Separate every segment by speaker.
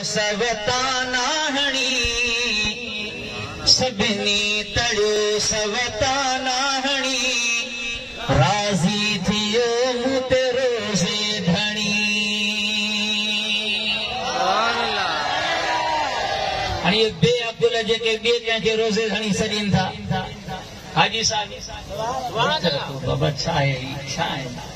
Speaker 1: سوتان آهڻي سڀني تڙ سوتان آهڻي راضي ٿيو مون تي روزي ڌڻي هاڻي اهي بي عقل جيڪي ٻئي ڪنهن کي روزي ڌڻي سڏين ٿا حاجي صاحب بابا ڇا آهي هي ڇا آهن.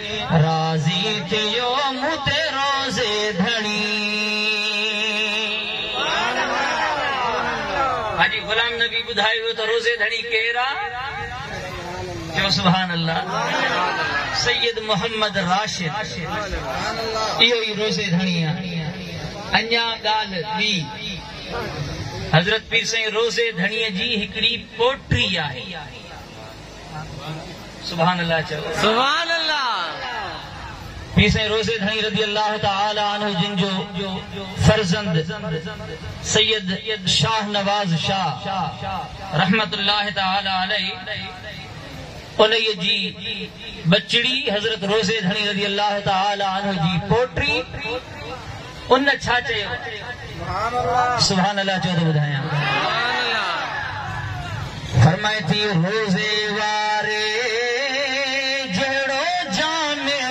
Speaker 1: راضي ٿيو مون تي روزي ڌڻي. حاجي غلام نبي ٻڌايو ويو ته روزي ڌڻي ڪير آ؟ چئو سبحان الله. سيد محمد راشد اهو ئي روزي ڌڻي آ. اڃا ڳالهه ٻي. حضرت پير سائين روزي ڌڻي جي هڪڙي پوٽري آهي. سبحان الله چئو. سبحان الله. پير سائين روضي ڌڻي رضي الله تعالٰي عنه جن جو فرزند سيد شاھ نواز شاھ رحمة الله تعالٰي عليه انهيء جي ٻچڙي حضرت روضي ڌڻي رضي الله تعالٰي عنه جي پوٽي ان ڇا چيو؟ سبحان الله چئو ته ٻڌايان. فرمائي ٿي روزي واري جهڙو جامع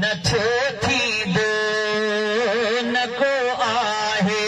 Speaker 1: نه ٿيو ٿيندو نه ڪو آهي.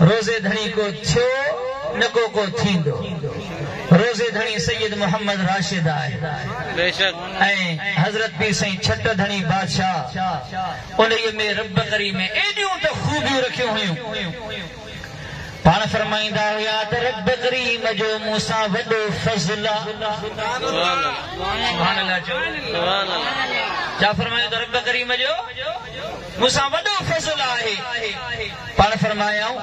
Speaker 1: روضي ڌڻي ڪو ٿيو نه ڪو ڪو ٿيندو. روضي ڌڻي سيد محمد راشد آهي ۽ حضرت پير سائين ڇٽ ڌڻي بادشاهه انهيء ۾ رب ڪريم ايڏيون ته خوبيون رکيون هيون. پاڻ فرمائيندا هيا ته رب ڪريم جو مون سان وڏو فضل آ. سبحان الله چئو. چا فرمايو ته رب ڪريم جو. مون سان وڏو فضل آهي. پاڻ فرمايائون،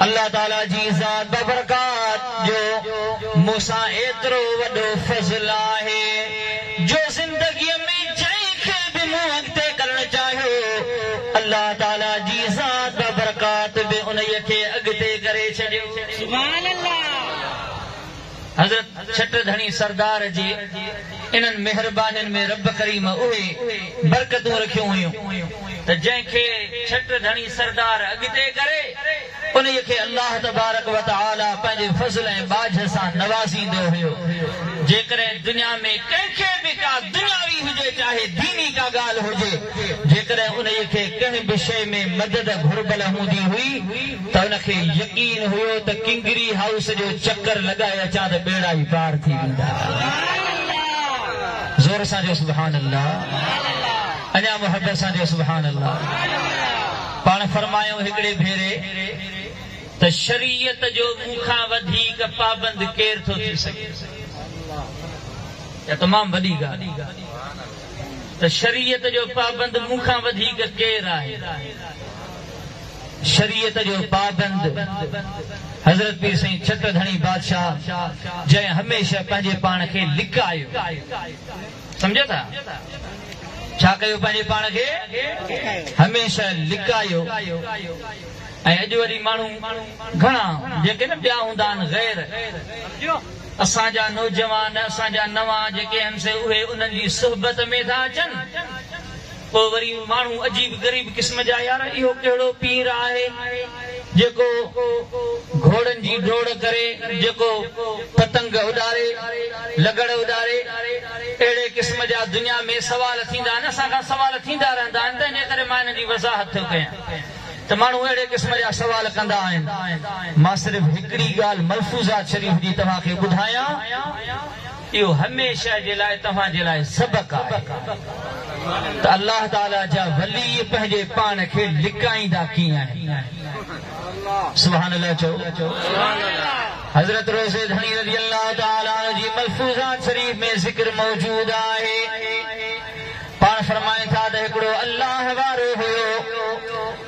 Speaker 1: الله تعاليٰ جي ذات بابرڪات جو مون سان ايترو وڏو فضل آهي جو زندگيء ۾ جنهن کي به مون اڳتي ڪرڻ چاهيو، الله تعاليٰ جي ذات بابرڪات به انهيء کي اڳتي ڪري ڇڏيو. سبحان الله. حضرت ڇٽ ڌڻي سردار جي انهن مهربانين ۾ رب ڪريم اهي برڪتون رکيون هيون ته جنهن کي ڇٽ ڌڻي سردار اڳتي ڪري انهيء کي الله تبارڪ وتعالي پنهنجي فضل ۽ ٻاجهه سان نوازيندو هيو جيڪڏهن دنيا ۾ ڪنهن کي به ڪا دنياوي هجي چاهي ديني ڪا ڳالهه هجي جيڪڏهن انهيء کي ڪنهن به شيء ۾ مدد گهربل هوندي هئي ته هن کي يقين هيو ته ڪنگري هائوس جو چڪر لڳائي اچان ته ٻيڙا ئي پار ٿي ويندا. زور سان چئو سبحان الله. اڃا محبت سان چئو سبحان الله. پاڻ فرمايائون هڪڙي ڀيري ته شريعت جو مون کان وڌيڪ پابند ڪير ٿو ٿي سگهي. اها تمام وڏي ڳالهه آهي ته شريعت جو پابند مون کان وڌيڪ ڪير آهي. شريعت جو پابند حضرت پير سائين ڇٽ ڌڻي بادشاهه جنهن هميشه پنهنجي پاڻ کي لڪايو سمجهيو ٿا ڇا ڪيو پنهنجي پاڻ کي هميشه لڪايو ۽ اڄ وري ماڻهو گهڻا جيڪي نه ٻيا هوندا آهن غير اسان جا نوجوان اسان جا نوان جيڪي آهن سي اهي انهن جي صحبت ۾ ٿا اچن پوء وري ماڻهو عجيب غريب قسم جا يار اهو ڪهڙو پير آهي جيڪو گهوڙن جي ڊوڙ ڪري جيڪو پتنگ اڏاري لغڙ اڏاري اهڙي قسم جا دنيا ۾ سوال ٿيندا آهن اسان کان سوال ٿيندا رهندا آهن تنهن جي ڪري مان انهن جي وضاحت ٿيو ڪيان ته ماڻهو اهڙي قسم جا سوال ڪندا آهن مان صرف هڪڙي ڳالهه ملفوظات شريف جي توهان کي ٻڌايان. اهو هميشه جي لاء توهان جي لاء سبق آهي ته الله تعاليٰ جا ولي پنهنجي پاڻ کي لڪائيندا ڪيئن آهن. سبحان الله چئو. حضرت روضي ڌڻي رضي الله تعاليٰ عنه جي ملفوظات شريف ۾ ذڪر موجود آهي. پاڻ فرمائن ٿا ته هڪڙو الله وارو هيو.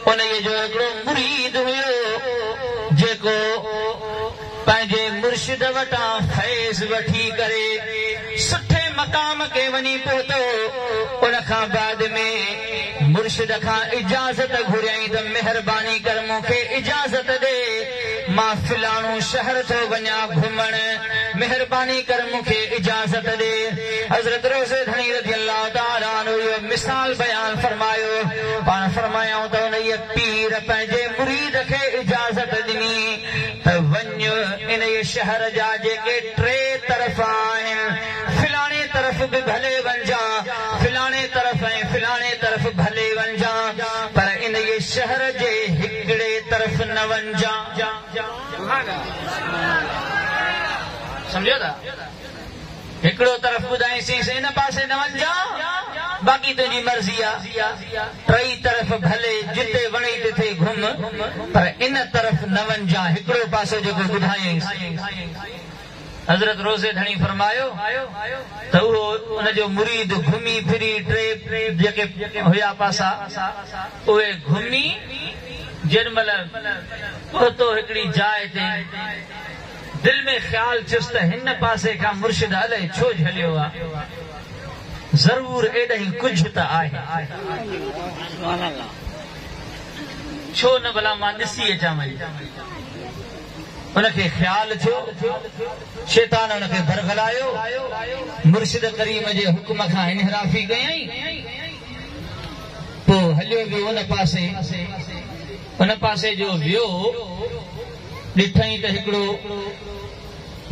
Speaker 1: انهيء جو هڪڙو مريد هيو جيڪو. پنهنجي مرشد وٽان فيض وٺي ڪري سٺي مقام کي وڃي پهتو، ان کان بعد ۾ مرشد کان اجازت گهريائين ته مهرباني ڪر مون کي اجازت ڏي مان فلاڻو شهر ٿو وڃان گهمڻ، مهرباني ڪر مون کي اجازت ڏي، حضرت روضي ڌڻي رضي الله تعالٰي عنه اهو مثال بيان فرمايو، پاڻ فرمايائون ته انهيء پير پنهنجي مريد کي اجازت ڏني. ته وڃ انهيء شهر جا جيڪي ٽي طرف آهن، فلاڻي طرف به ڀلي وڃجان، فلاڻي طرف ۽ فلاڻي طرف ڀلي وڃجان، پر انهيء شهر جي هڪڙي طرف نه وڃجان. سمجهيو ٿا؟ هڪڙو طرف ٻڌائينسينس ان پاسي نه وڃجان باقي تنهنجي مرضي آ. ٽئي طرف ڀلي جتي وڻئي تٿي گهم پر ان طرف نه وڃجان هڪڙو پاسو جيڪو ٻڌايئينس. حضرت روضي ڌڻي فرمايو ته اهو ان جو مريد گهمي ڦري ٽئي جيڪي هيا پاسا اهي گهمي جيڏمهل پهتو هڪڙي جاء تي دل ۾ خيال ٿيس ته هن پاسي کان مرشد الائي ڇو جهليو آ؟ ضرور ايڏاهين ڪجهه ته آهي. ڇو نه ڀلا مان ڏسي اچان وڃي. ان کي خيال ٿيو. شيطان ان کي برغلايو. مرشد ڪريم جي حڪم کان انحرافي ڪيائين. پوء هليو ويو ان پاسي. ان پاسي جو ويو. ڏٺئين ته هڪڙو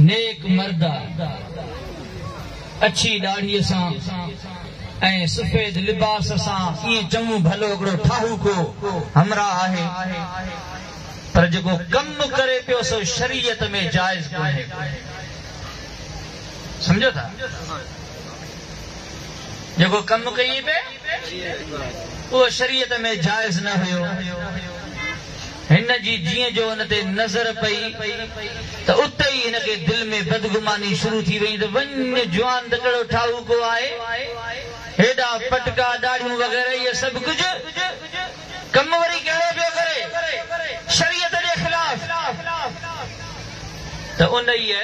Speaker 1: نيڪ مرد آ، اڇي ڏاڙهيء سان ۽ سفيد لباس سان ائين چڱو ڀلو هڪڙو ٺاهوڪو همراهه آهي، پر جيڪو ڪم ڪري پيو سو شريعت ۾ جائز ڪونهي. سمجهو ٿا؟ جيڪو ڪم ڪيئي پئي اهو شريعت ۾ جائز نه هيو. هن جي جيئن جو ان تي نظر پئي ته اتي ئي هن کي دل ۾ بدگماني شروع ٿي ويئي ته وڃ جوان ته ڪهڙو ٺاهوڪو آهي، هيڏا پٽڪا، ڏاڙهيون وغيره اهي سڀ ڪجهه، ڪم وري ڪهڙو پيو ڪري شريعت جي خلاف ته انهيء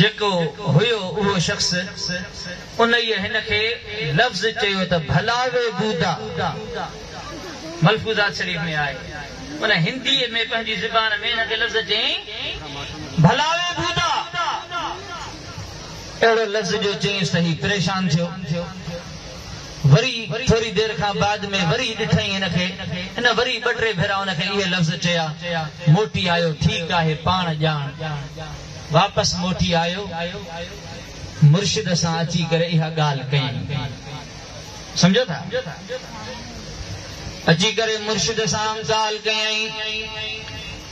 Speaker 1: جيڪو هيو اهو شخص انهيء هن کي لفظ چيو ته ڀلا وي بودا! ملفوظات شريف ۾ آهي. ان هنديء ۾ پنهنجي زبان ۾ هن کي لفظ چيائين، ڀلاوي بودا! اهڙو لفظ جو چيائينس ته هي پريشان ٿيو. وري ٿوري دير کان بعد ۾ وري ڏٺائين هن کي. هن وري ٻه ٽي ڀيرا ان کي اهي لفظ چيا. موٽي آيو، ٺيڪ آهي، پاڻ ڄاڻ. واپس موٽي آيو. مرشد سان اچي ڪري اها ڳالهه ڪيائين. سمجهو ٿا؟ اچي ڪري مرشد سان ڳالهه ڪيائين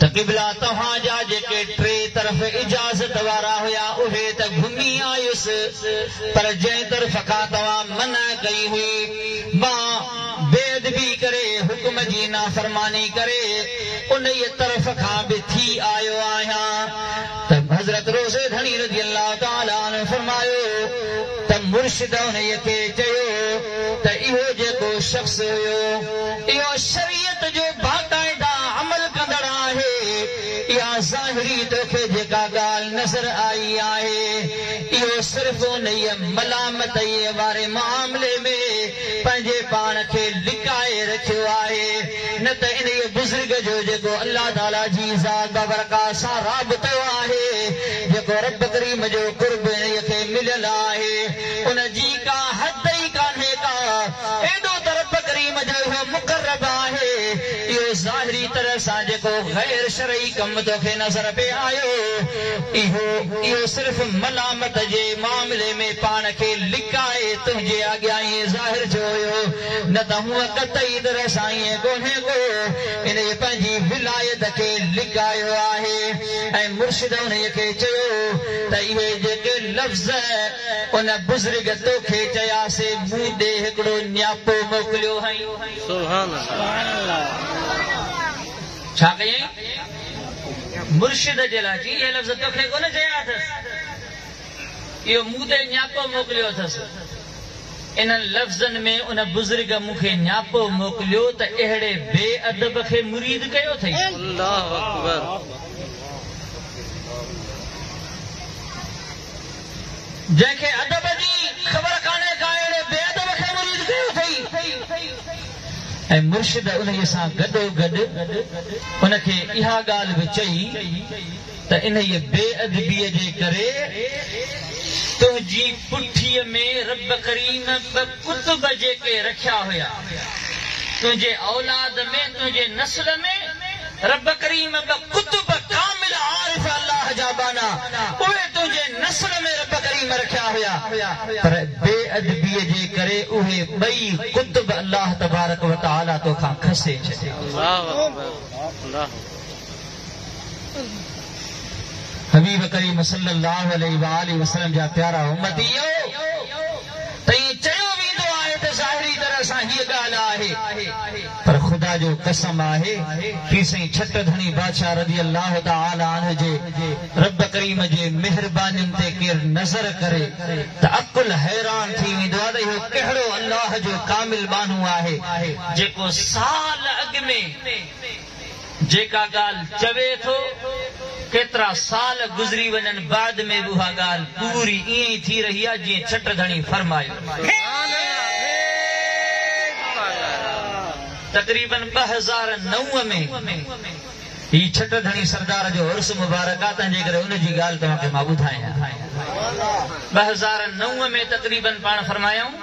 Speaker 1: ته قبلا توهان جا جيڪي ٽي طرف اجازت وارا هيا اهي ته گهمي آيس پر جنهن طرف کان توهان منع ڪئي هئي مان بي ادبي ڪري حڪم جي نافرماني ڪري انهيء طرف کان به ٿي آيو آهيان ته حضرت روزي ڌڻي رضي الله تعالٰي عنه فرمايو ته مرشد انهيء کي چيو ته اهو جيڪو شخص هيو اهو شريعت جو باقاعده عمل ڪندڙ آهي، اها ظاهري توکي جيڪا ڳالهه نظر آئي آهي اهو صرف انهيء ملامتيء واري معاملي ۾ پنهنجي پاڻ کي لڪائي رکيو آهي. نه ته انهيء بزرگ جو جيڪو الله تعاليٰ جي ذات بابرڪات سان رابطو آهي، جيڪو ربّ ڪريم جو قرب انهيء کي مليل آهي، ان جي ڪا حد ئي ڪانهي ڪا، ايڏو ته ربّ ڪريم جو اهو مقرّب آهي، اهو ظاهري طرح سان جيڪو غير شرعي ڪم تو کي نظر پئي آيو، اهو اهو صرف ملامت جي معاملي ۾ پاڻ کي لڪائي تنهنجي آڳيان ائين ظاهر ٿيو هيو. نه ته هونء قطعي طرح سائينء ڪونهي ڪو انهيء پنهنجي ولايت کي لڪايو آهي ۽ مرشد انهيء کي چيو ته اهي جيڪي لفظ ان بزرگ تو کي چيا سي مون ڏي هڪڙو نياپو موڪليو هئائين. ڇا ڪيائين؟ مرشد جي لاء چي اهي لفظ تو کي ڪونه چيا اٿس. اهو مون تي نياپو موڪليو اٿس. انهن لفظن ۾ ان بزرگ مون کي نياپو موڪليو ته اهڙي بي ادب کي مريد ڪيو اٿئي. جنهن کي ادب جي خبر ڪانهي ڪا اهڙي بي ادب کي مريد ڪيو اٿئي ۽ مرشد انهيء سان گڏوگڏ ان کي اها ڳالهه به چئي ته انهيء بي ادبيء جي ڪري تنهنجي پٺيء ۾ رب ڪريم ٻه قطب جيڪي رکيا هيا، تنهنجي اولاد ۾، تنهنجي نسل ۾، رب ڪريم ٻه قطب ڪامل عارف الله جا ٻانها، اهي تنهنجي نسل ۾ رب ڪريم رکيا هيا، پر بي ادبيء جي ڪري اهي ٻئي قطب الله تبارڪ وتعاليٰ توکان کسي ڇڏيا. حبيب ڪريم صلّي اللّٰه عليه واٰله وسلّم جا پيارا امّتيّو! ته ائين چيو ويندو آهي ته ظاهري طرح سان هيء ڳالهه آهي، پر خدا جو قسم آهي، پير سائين ڇٽ ڌڻي بادشاهه رضي اللّٰه تعالٰي عنه جي ربّ ڪريم جي مهربانين تي ڪير نظر ڪري ته عقل حيران ٿي ويندو آهي ته اهو ڪهڙو اللّٰه جو ڪامل ٻانهو آهي، جيڪو سال اڳ ۾. جيڪا ڳالهه چوي ٿو، ڪيترا سال گذري وڃن بعد ۾ به اها ڳالهه پوري ائين ئي ٿي رهي آهي جيئن ڇٽ ڌڻي فرمايو تقريباً ٻه هزار نو ۾ هي ڇٽ ڌڻي سردار جو عرس مبارڪ آهي تنهنجي ڪري ان جي ڳالهه توهان کي مان ٻڌايان ٻه هزار نو ۾ تقريباً پاڻ فرمايائون.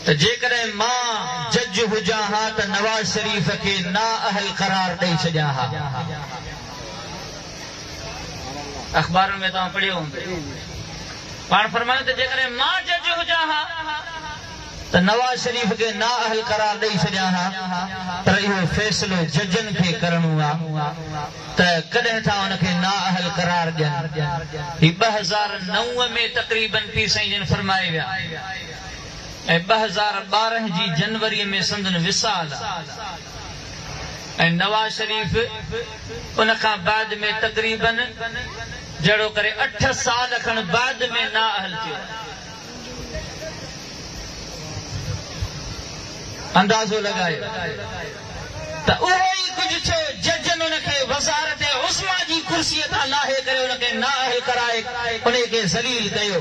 Speaker 1: ته جيڪڏهن مان جج هجان ها ته نواز شريف کي نااهل قرار ڏئي ڇڏيان ها. اخبارن ۾ توهان پڙهيو هوندو پاڻ فرمايو ته جيڪڏهن مان جج هجان ها ته نواز شريف کي نااهل قرار ڏئي ڇڏيان ها پر اهو فيصلو ججن کي ڪرڻو آ ته ڪڏهن ٿا ان کي نااهل قرار ڏين. هي ٻه هزار نو ۾ تقريبن پير سائين جن فرمائي ويا. ۽ ٻه هزار ٻارهن جي جنوري ۾ سندن وصال آ ۽ نواز شريف ان کان بعد ۾ تقريباً جهڙو ڪري اٺ سال کن بعد ۾ نااهل ٿيو آهي. اندازو لڳايو ته اهو ئي ڪجهه ٿيو ججن ان کي وزارت عظميٰ جي ڪرسيء تان لاهي ڪري ان کي نااهل ڪرائي انهي کي ذليل ڪيو.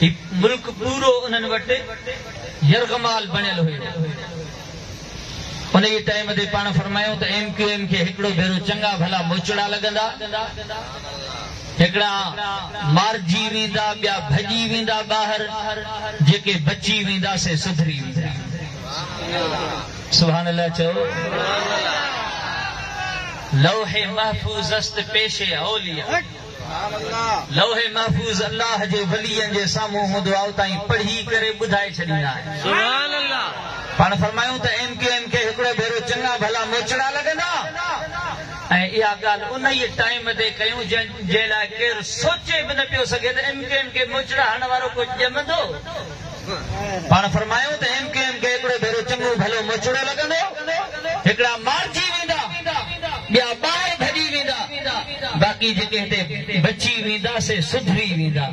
Speaker 1: هي ملڪ پورو انهن وٽ يرغمال بڻيل هيو. انهيء ٽائيم تي پاڻ فرمايائون ته ايم ڪيو ايم کي هڪڙو ڀيرو چڱا ڀلا موچڙا لڳندا، هڪڙا مارجي ويندا، ٻيا ڀڄي ويندا ٻاهر، جيڪي بچي ويندا سي سڌري ويندا. سبحان الله چئو. لوح محفوظ است پيش اولياء. لوح محفوظ الله جي ولين جي سامهون مدعائو تائين پڙهي ڪري ٻڌائي ڇڏيندا آهن. پاڻ فرمايون ته ايم ڪيو ايم کي هڪڙو ڀيرو چڱا ڀلا موچڙا لڳندا ۽ اها ڳالهه انهيء ٽائيم تي ڪيون جنهن جي لاء ڪير سوچي به نه پيو سگهي ته ايم ڪيو ايم کي موچڙا هڻڻ وارو ڪو ڄمندو. پاڻ فرمايو ته ايم ڪيو ايم کي هڪڙو ڀيرو چڱو ڀلو مچڙو لڳندو، هڪڙا مارجي ويندا، ٻيا ٻاهر ڀڄي ويندا، باقي جيڪي هتي بچي ويندا سي سڌري ويندا.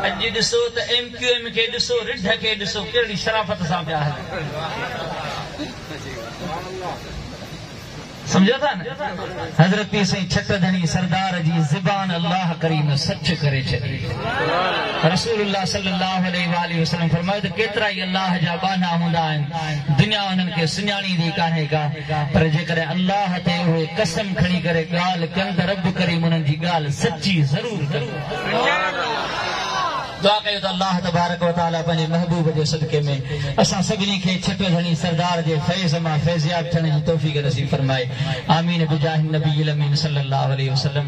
Speaker 1: اڄ ڏسو ته ايم ڪيو ايم کي ڏسو، رڍ کي ڏسو، ڪهڙي شرافت سان پيا هلن. سمجهو ٿا نه حضرت پير سائين ڇٽ ڌڻي سردار جي زبان الله ڪريم سچ ڪري ڇڏي رسول الله صلي الله عليه واٰله وسلم فرمايو ته ڪيترائي الله جا ٻانها هوندا آهن دنيا انهن کي سڃاڻيندي ڪانهي ڪا پر جيڪڏهن الله تي اهي قسم کڻي ڪري ڳالهه ڪن ته رب ڪريم انهن جي ڳالهه سچي ضرور ڪندو دعا ڪيو ته الله تبارڪ و تعالي پنهنجي محبوب جي صدقي ۾ اسان سڀني کي ڇٽو ڌڻي سردار جي فيض مان فيضياب ٿيڻ جي توفيق نصيب فرمائي آمين بجاه النبي الامين صلي الله عليه وسلم.